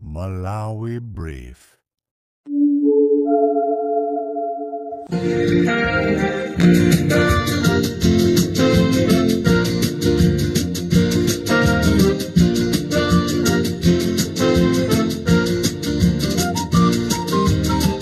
Malawi Brief.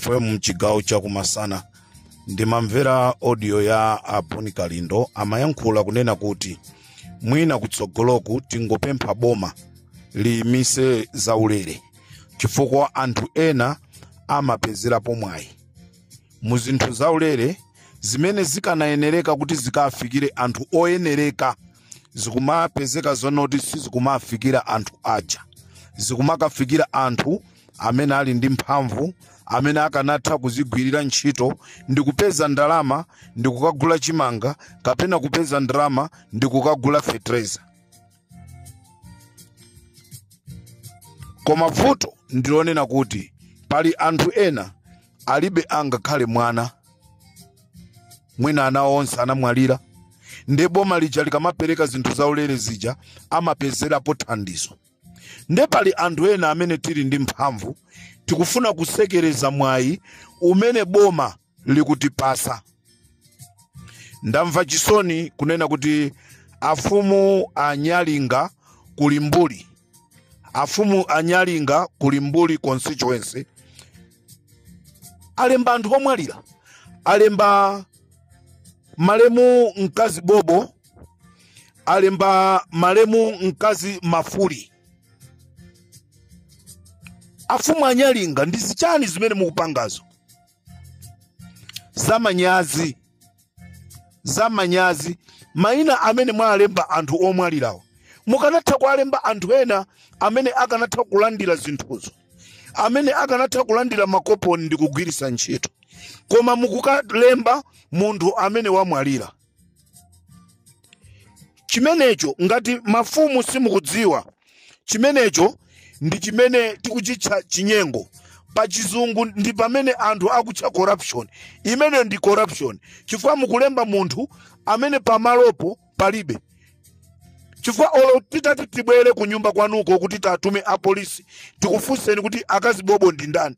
fm mchigawo chakumasana ndimamvera audio ya a Bon Kalindo amayankhula kunena kuti mwina kutsogoloku tingopempha boma liyimitse zaulere chifukwa anthu ena amapezerapo mwayi mu zinthu zaulere zimene zikanayenereka kuti zikafikire anthu oyenereka zikumapezeka zonoti sizikumafikira anthu aja zikumakafikira anthu amene ali ndi mphamvu amene akanatha kuzigwirira ntchito ndi kupeza ndalama ndi kukagula chimanga kapena kupeza ndalama ndi kukagula fetereza koma vuto ndilonena kuti pali anthu ena alibe angakhale mwana mwina ana awo onse anamwalira nde boma lija likamapereka zinthu zaulere zija amapezerapo thandizo nde pali anthu ena amene tili ndi mphamvu tikufuna kusekereza mwayi umene boma likutipasa ndamva chisoni kunena kuti afumu a nyalinga ku limbuli afumu a nyalinga ku limbuli constituency alemba anthu omwalira alemba malemu mkazi bobo alemba malemu mkazi mafuli afumu a nyalinga ndi zichani zimene mukupangazo zamanyazi mayina amene mwalemba anthu omwalirawo mukanatha kuwalemba anthu ena amene akanatha kulandira zinthuzo amene akanatha kulandira makoponi ndi kugwiritsa ntchito koma mukukalemba munthu amene wamwalira chimenecho ngati mafumu simukudziwa chimenecho ndi chimene tikuchitcha chinyengo pa chizungu ndi pamene anthu akutcha corruption imeneyo ndi corruption chifukwa mukulemba munthu amene pamalopo palibe chifukwa olo titati tibwere ku nyumba kwanuko kuti tatume apolisi tikufunseni kuti akazi bobo ndi ndani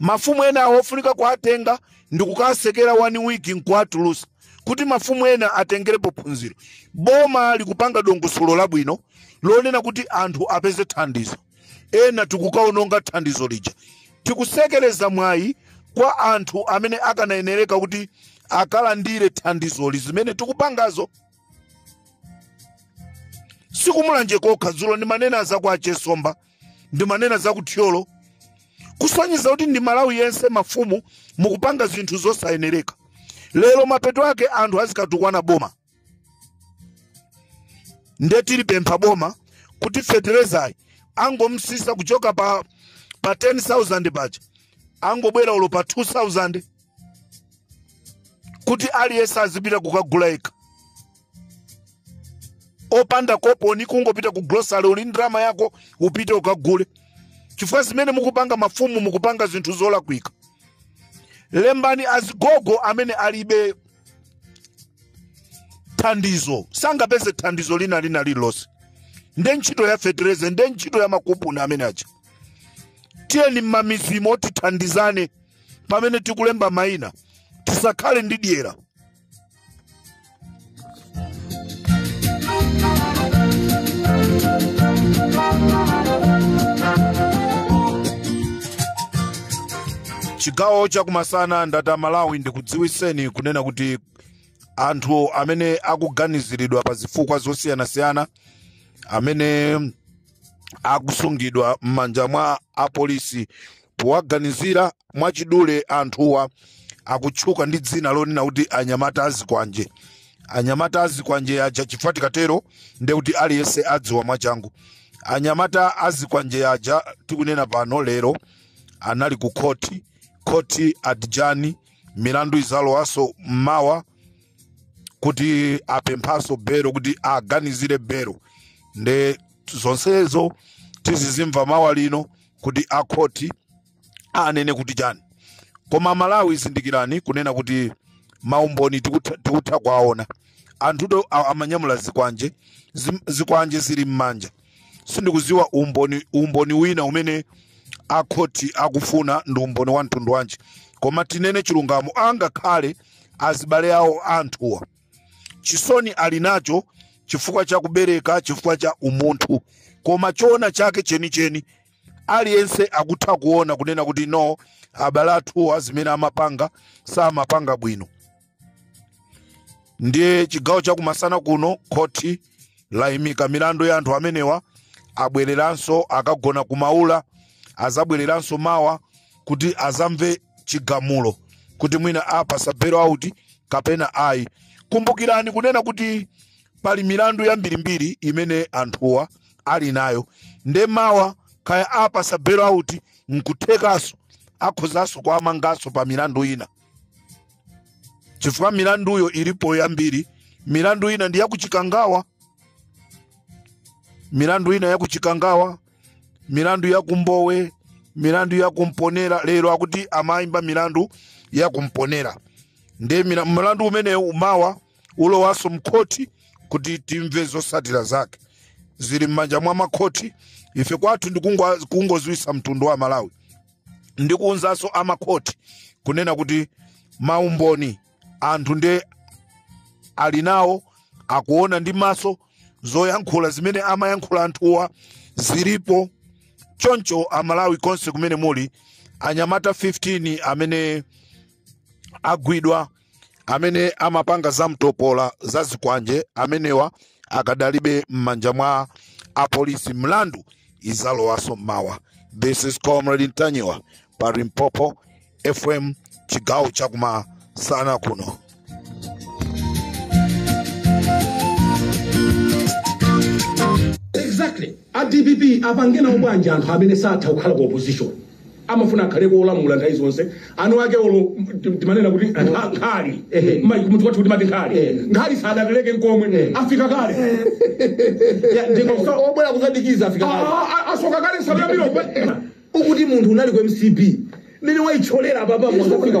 mafumu ena awo ofunika kuwatenga ndi kukasekera 1 week nkuwatulusa kuti mafumu ena atengerepo phunziro boma likupanga dongosolo labwino lonena kuti anthu apeze thandizo ena tikukaononga thandizo lija tikusekereza mwayi kwa anthu amene akanayenereka kuti akalandire thandizoli zimene tikupangazo sikumulanje kokha dzulo ndimanena za kwa chesomba ndimanena za ku thyolo kusonyeza kuti ndi malawi yense mafumu mukupanga zinthu zosayenereka lero mapeto ake anthu azikatukwana boma nde tilipempha boma kuti feterezayi angomsisa kuchoka pa pa 10000 paja angobwerano pa 2000 kuti aliyense azipita kukagula yekha opanda koponi kungopita ku grocery uli ndi ndalama yako upite ukagule chifukwa zimene mukupanga mafumu mukupanga zinthu zolakwika lembani azigogo amene alibe thandizo sangapeze thandizo lina lina lililonse nde ntchito ya fetereza nde ntchito ya makupuni amene aja tiyeni mmamizimo tithandizane pamene tikulemba mayina tisakhale ndi dyera chigawo chakumasana nthawi Malawi ndikudziwiseni kunena kuti anthu amene akuganiziridwa pa zifukwa zosiyanasiyana amene akusungidwa m'manja mwa apolisi powaganizira mwachidule anthuwa akutchuka ndi dzina lonena kuti anyamata azikwanje anyamata azikwanje aja chifukwa tikatero nde kuti aliyense adziwa mwachangu anyamata azikwanje aja tikunena pano lero anali ku khoti khoti adjourn milandu izalowanso mmawa kuti apemphaso belo kuti aganizire belo nde zonsezo tizizimva mawa lino kuti akhoti anene kuti chani koma malawi zindikirani kunena kuti maumboni tikutha tikutha kuwaona anthuto a- amanyamula zikwanje zim- zikwanje zili m'manja sindikuziwa umboni umboni wina umene akhoti akufuna ndi umboni wa mtundu wanji koma tinene chilungamo angakhale azibale awo anthuwa chisoni ali nacho chifukwa cha kubereka chifukwa cha umunthu koma choona chake chenicheni aliyense akutha kuona kunena kuti no abale athuwa zimene amapanga samapanga bwino ndiye chigawo chakumasana kuno khoti layimika milandu ya anthu amenewa abwereranso akagona kumaula azabwereranso mawa kuti azamve chigamulo kuti mwina apasa bail out kapena ayi kumbukirani kunena kuti pali milandu yambirimbiri imene anthuwa ali nayo nde mawa kaya apasa bail out nkuthekanso akhozanso kuwamanganso pa milandu ina chifukwa milanduyo ilipo yambiri milandu ina ndi yakuchikangawa milandu ina yakuchikangawa milandu yakumbowe milandu yakumponera lero akuti amayimba milandu yakumponera nde mila- mlandu umenewu mawa ulowanso mkhoti kuti timve zosatira zake zili m'manja mwa makhoti ife kwathu ndi kungoziwisa mtundu wa malawi ndikuunzanso amakhoti kunena kuti maumboni anthu nde ali nawo akuona ndi maso zoyankhula zimene amayankhula anthuwa zilipo choncho amalawi konse kumene muli anyamata 15 amene agwidwa amene amapanga zamtopola za zikwanje amenewa akadalibe m'manja mwa apolisi milandu izalowaso mmawa this is comrade ntanyiwa pa limpopo fm chigawo chakumasana kuno exactly a dpp apange nawo banja anthu amene satha kukhala ku opposition amafuna akhale kolamula nthawi zonse anu ake olo tim- timanena kuti nkha- nkhali Ehe. Mma- kumudzi kwathu timati nkhali Ehe. nkhali sadatereke nkomwe Ehe. afika kale Ya, ndi- Osa- obwera kuzadikiza afika kale. Ah, ah, asoka kale nsalu ya miloko ukuti munthu unali ku mcp mmene waitcholera apapa mozafika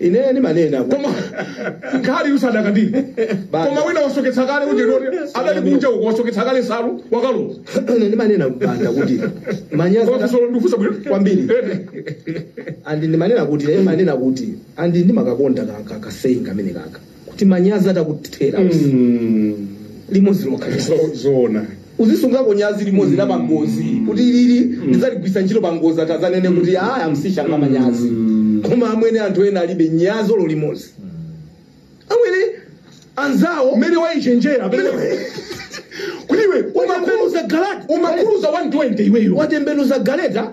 ine ndimanena kuti- koma nkhali usadakandire Bana. koma wina wasoketsa kale uje woti adali kunja uko wasoketsa kale nsalu wakalowa ine ndimanena banda kuti manyazi koma kusolo ndikufunsa bwino Kwambiri. Eh, andi ndimanena kuti ine ndimanena kuti andi ndimakakonda ka- ka- kasaying kamene kaka kuti manyazi atakuthera Mm. limodzi lokha Zo- zoona uzisungako nyazi limodzi la pangozi kuti lili ndidzaligwisa ntchito pangozi atazanene kuti aya amsisha nga manyazi koma amwene anthu ena alibe nyazi olo limodzi amwene anzawo umene waichenjera pamene kuti iwe umakuluza galata umakuluza 120 iweyo watembenuza galeta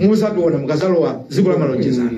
muzabiona mukazalowa dziko la malonjezano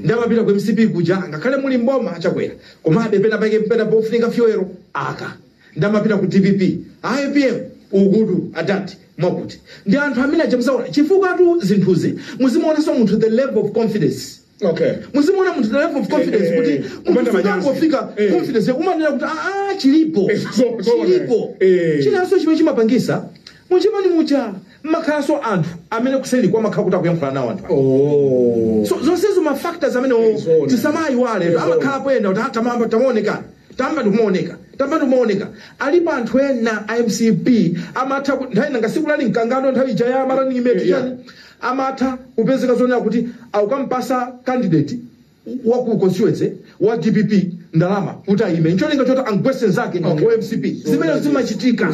ndamapita ku mcp kuja ngakhale muli mboma achakwera komabe pena pake pena pofunika fuel aka ndamapita ku dpp apm ukutu adati mwakuti ndi anthu amene aja muzaona chifukwatu zinthuzi muzimuonanso munthu the level of confidence Okay. muzimuona munthu the level of confidence Eh, eh, kuti eh. munthu Kupanda manyazi. akangofika Eh. confidence yakumanena kuti aa chilipo Eh, so- so- chilipo eh. chinanso chimene chimapangisa muchimani mucha mmakhalanso anthu amene kuseli kwake amakhala kuti akuyankhula nawo anthu Oh. so zonsezo ma factors amene o- Zona. tisamayiwale Zona. amakhala poyenda kuti "Ah, tamamba tamaoneka tamba ndikumaoneka tamba ndikumaoneka alipo anthu ena a mcp amatha ku- nthawi nanga siku lali mkangano nthawi ija ya malani imeti Yeah. chani amatha kupezeka zonena kuti akumpasa candidate wa ku constituency wa dpp ndalama kuti ayime ncholinga choti amugwese nzake wa mcp zimene zimachitika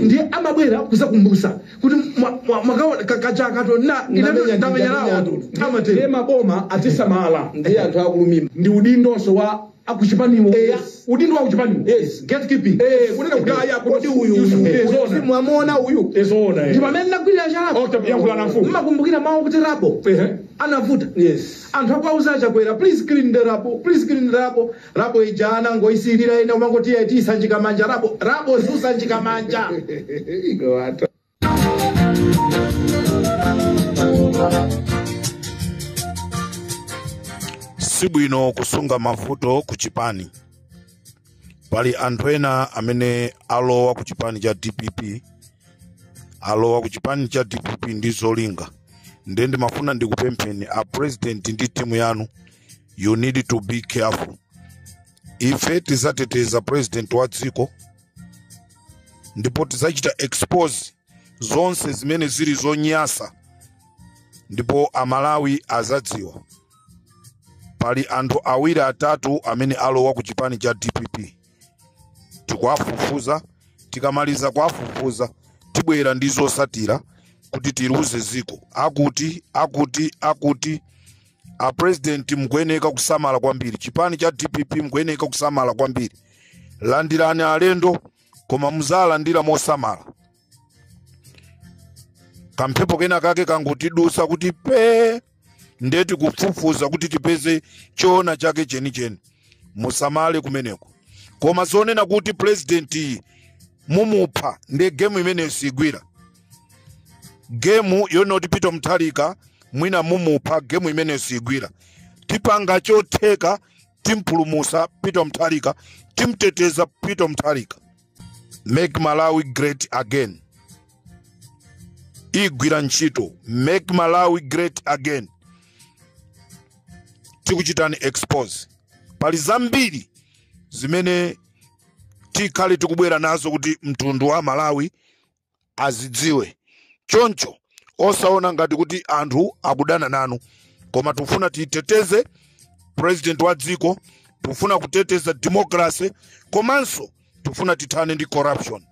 ndiye amabwera kuzakumbusa kuti mwa- mwa- mwakawa ka- kachaka tona Ndamenya- ndamenya nawo ndamenya- ndiye amatero maboma atisamala ndiye anthu akulumima ndi udindonso wa akuchipaniwo Eya. udindo wa kuchipaniwo Yes. gatekeeping Eh, kunena kuti ayi akuti Kodi uyu- uyu Eh, zoona. uyu mwamuona uyu ezoona ndi pamene ndinagwirira Oh, chalapo takuyankhula na mfumu mmakumbukira mawu kuti rubble Ehe. anavuta yes anthu akuwauza achakwera please clean the rubble please clean the rubble rubble ija anangoisilira ena umangoti iti isanjika manja rubble rubble siusanjika manja Iko watu. si bwino kusunga mavuto ku chipani pali anthu ena amene alowa ku chipani cha dpp alowa ku chipani cha dpp ndi zolinga ndiye ndimafuna ndikupempheni a president ndi timu yanu you need to be careful ife tizateteza president wa dziko ndipo tizachita expose zonse zimene zili zonyasa ndipo amalawi azadziwa pali anthu awiri atatu amene alowa ku chipani cha dpp tikuwafufuza tikamaliza kuwafufuza tibwera ndi zosatira kuti tiliuze ziko akuti akuti akuti a president mukuyeneka kusamala kwambiri chipani cha dpp mukuyeneka kusamala kwambiri landirani alendo koma muzalandira mosamala kamphepo kena kake kangotidusa kuti pe nde tikufufuza kuti tipeze choona chake chenicheni musamale kumeneko koma zonena kuti presidentiyi mumupha nde gemu imeneyo sigwira gemu yonoti peter mutharika mwina mumupha gemu imene sigwira tipanga chotheka timpulumusa peter mutharika timteteza peter mutharika make malawi great again igwira ntchito make malawi great again tikuchitani expose pali zambiri zimene tikhale tikubwera nazo kuti mtundu wa malawi azidziwe choncho osaona ngati kuti anthu akudana nanu koma tikufuna titeteze president wa dziko tikufuna kuteteza democracy komanso tikufuna tithane ndi corruption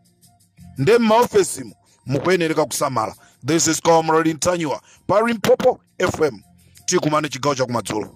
nde m'maofesimu mukuyenereka kusamala this is comrade ntanyiwa pa limpopo fm tikumane chigawo chakumadzulo